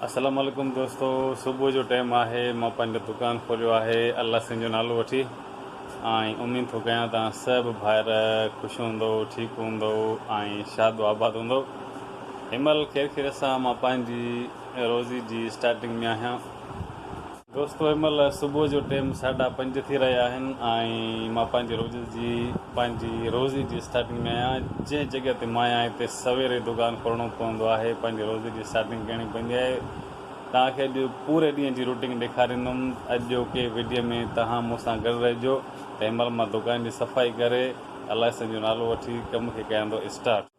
اسلام عليڪم دوستو صبح جو ٽيم آهي مان پنهنجو دڪان کوليو آهي الله سنگهه جو نالو وٺي ۽ اميد ٿو ڪيان توهان سڀ ڀائر خوش هوندو ٺيڪ هوندو ۽ شاد و آباد هوندو هيمل خير خيرت سان مان پنهنجي روزي جي اسٽارٽنگ ۾ آهيان دوستو هن مهل صبح جو ٽيم ساڍا پنج ٿي رهيا آهن ۽ مان پنهنجي روز جي پنهنجي روزي جي اسٽارٽنگ ۾ آهيان جنهن جڳهه تي مان آهيان هتي سوير ئي دوڪان کولڻو پوندو آهي پنهنجي روزي جي اسٽارٽنگ ڪرڻي پوندي آهي توهان کي اڄ پوري ڏينهن جي روٽين ڏيکاريندم اڄوڪي وڊيو ۾ توهان مون سان گڏ رهجو ته هن مهل مان دوڪان جي صفائي ڪري الله سائين جو نالو وٺي ڪم کي ڪياندو اسٽارٽ.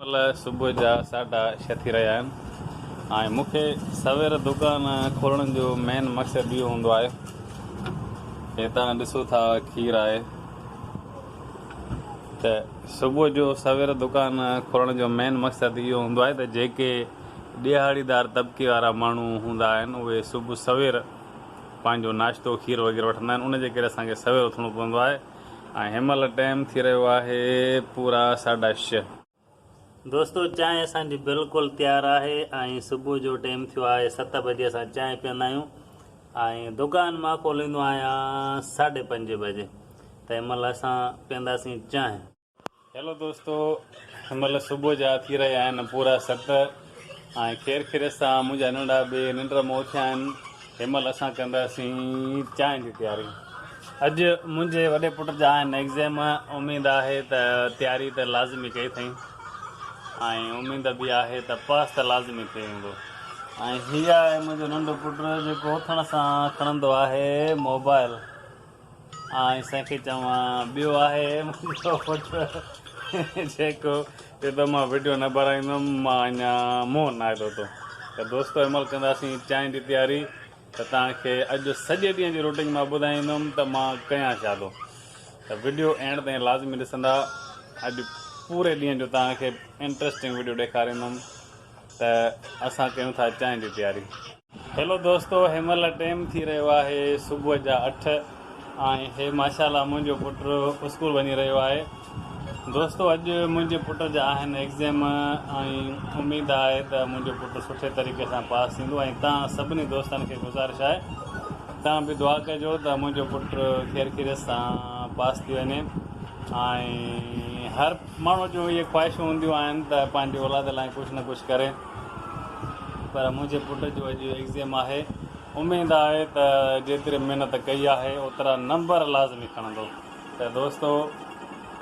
مهل صبح جا ساڍا ڇهه ٿي رهيا آهن ۽ مون کي سوير دڪان کولڻ جو مين مقصد اهو هوندو آهي هتان ڏسو ٿا کير آهي ته صبح جو سوير دڪان کولڻ جو مين مقصد اهو هوندو آهي ته جيڪي ڏيهاڙيدار طبقي وارا ماڻهو هوندا آهن اهي صبح سوير پنهنجو ناشتو کير وغيره وٺندا آهن ان جي ڪري اسان کي سوير اٿڻو پوندو آهي ۽ هن مهل ٽيم ٿي رهيو آهي پورا ساڍا ڇهه دوستو چانهه اسان جي بلڪل تيار آهي ۽ صبح جو ٽيم ٿيو آهي ست بجي اسان چانهه پيئندا آهيون ۽ دڪان مان کوليندو آهيان ساڍي پنج بجي ته ان مهل اسان پيئنداسين چانهه. هيلو دوستو هن مهل صبح جا ٿي رهيا آهن پورا ست آهن خير خيريت سان منهنجا ننڍا ٻي ننڊ م اٿيا آهن هن مهل اسان ڪنداسين چانهه جي تياري اڄ منهنجي وڏي پٽ جا آهن ايگزيم اميد آهي ته تياري ته لازمي ڪئي اٿئي ۽ اميد به آهي ته پاس ته لازمي ٿي ويندو ۽ هي آهي منهنجو ننڍو پٽ جيڪو اٿڻ سان کڻندو آهي موبائل آء سائين کي چوان ٻيو آهي منهنجو پٽ جيڪو چئي ٿو مان وڊيو نه ٻارائيندم مان اڃا منهن ناهي ڌوتو ته دوستو عمل ڪنداسين چانهه جي تياري ته توهان کي اڄ سڄي ڏينهن جي روٽين مان ٻڌائيندم ته مان ڪيان ڇا ٿو ته وڊيو اينڊ تائين لازمي ڏسندا اڄ پوري ڏينهن جو توهان کي انٽرسٽنگ وڊيو ڏيکاريندم ته اسان ڪيون ٿا چانهه جي تياري هيلو دوستو هي مهل ٽيم ٿي رهيو آهي صبح جا اٺ ۽ هي ماشاءالله منهنجو پٽ اسڪول وڃي رهيو آهي دوستو اڄ منهنجي پٽ جا آهن ايگزيم ۽ اميد آهي ته منهنجو پٽ سٺي طريقي سان پاس ٿيندو ۽ تان سڀني دوستن کي گذارش آهي تان به دعا ڪجو ته منهنجو پٽ خير خيريت سان پاس ٿي وڃي ۽ هر ماڻهو جو اهي خواهشون هونديون آهن ته پنهنجي اولاد لاء ڪجهه نه ڪجهه ڪري پر منهنجي پٽ جو اڄ ايگزيم آهي، اميد آهي ته جيتري محنت ڪئي آهي اوترا نمبر لازمي کڻندو ته دوستو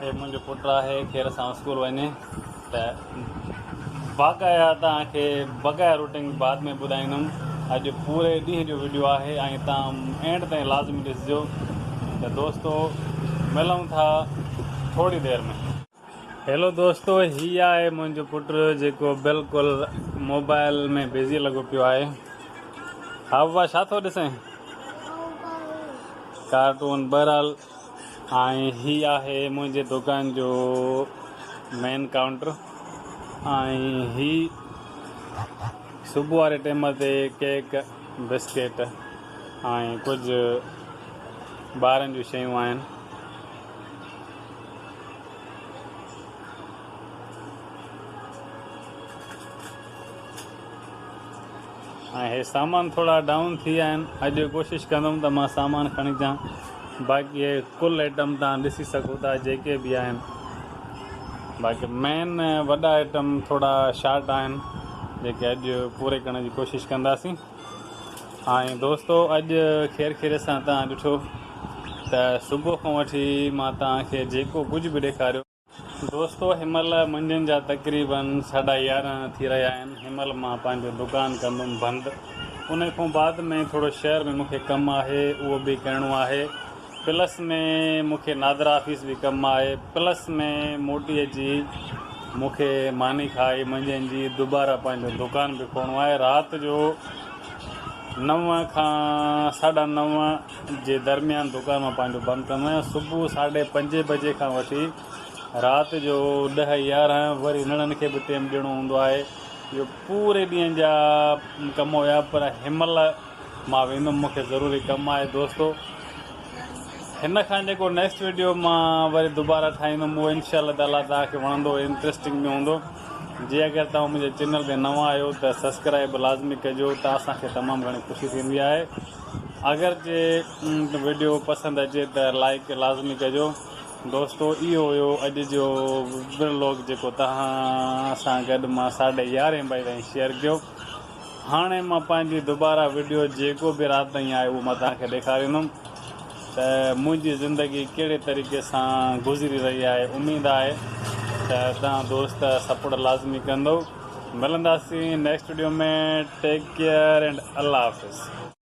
هي منهنجو پٽ آهي خير سان اسڪول وڃي ته باقايا توهان کي بغير روٽنگ بعد ۾ ٻڌائيندم اڄ پوري ڏينهن جو ويڊيو آهي ۽ توهان اينڊ تائين لازمي ڏسجو ته دوستو ملون ٿا ٿوري دير ۾. هيلو دوستو هي آهي منهنجو پٽ جيڪو بلڪل موبائل ۾ بزي لڳو پيو آهي ها بابا ڇا ٿو ڏسين ڪارٽون بهرحال ۽ هي آهي منهنجي دڪان جو مين ڪائونٽر ۽ هي صبح واري ٽيم تي ڪيڪ بسڪيٽ ۽ ڪجهه ٻارن جون شيون آهن ۽ هي سامان ٿورا ڊائون ٿي ويا آهن اڄ ڪوشش ڪندم ته مان سامان کڻي اچان باقي هي ڪل آئٽم تان ڏسي سگهو ٿا جيڪي به آهن باقي مين وڏا آئٽم ٿورا شارٽ آهن جيڪي اڄ پوري ڪرڻ جي ڪوشش ڪنداسين هاڻي دوستو اڄ خير خيريت سان توهان ڏٺو ته صبح کان وٺي مان توهان کي جيڪو ڪجهه به ڏيکاريو. دوستو هن مهل منجهند جا تقريبن ساڍا يارهن ٿي رهيا آهن هن مهل مان پنهنجو دڪان ڪندم بند انهي کان بعد ۾ ٿورو شهر ۾ مونکي ڪم آهي اهو به ڪرڻو آهي پلس ۾ مون کي نادرا آفيس به ڪم آئي. پلس ۾ موٽي اچي مون کي ماني کائي منجهند جي دوباره پنهنجو دوڪان به کولڻو آهي. رات جو نو کان ساڍا نو جي درميان دوڪان مان پنهنجو بند ڪندو آهيان. صبح ساڍي پنجين بجي کان وٺي رات جو ڏهه يارهن وري نڙن کي به ٽيم ڏيڻو هوندو آهي. اهي پوري ڏينهن جا ڪم هيا پر هن مهل مان ويندم مون کي ضروري ڪم آهي دوستو هن کان جيڪو نيڪسٽ ويڊيو مان وري دوباره ٺاهيندم اهو انشاء الله تعالي توهان کي وڻندو انٽرسٽنگ به هوندو جي اگر توهان منهنجي چينل تي نوان آهيو ته سبسڪرائب لازمي ڪجو ته اسان کي تمام گهڻي خوشي ٿيندي آهي اگر جي ويڊيو پسند اچي ته لائڪ لازمي ڪجو دوستو اهو هيو اڄ جو ولوگ جيڪو توهان سان گڏ مان ساڍي يارهين بجي تائين شيئر ڪيو هاڻي مان پنهنجي دوباره وڊيو جيڪو به رات تائين آهي اهو مان توهان کي ڏيکاريندم ته منهنجي زندگي ڪهڙي طريقي سان گذري رهي آهي اميد آهي ته توهان دوست سپورٽ لازمي ڪندؤ ملنداسين next video ۾ take care and الله حافظ.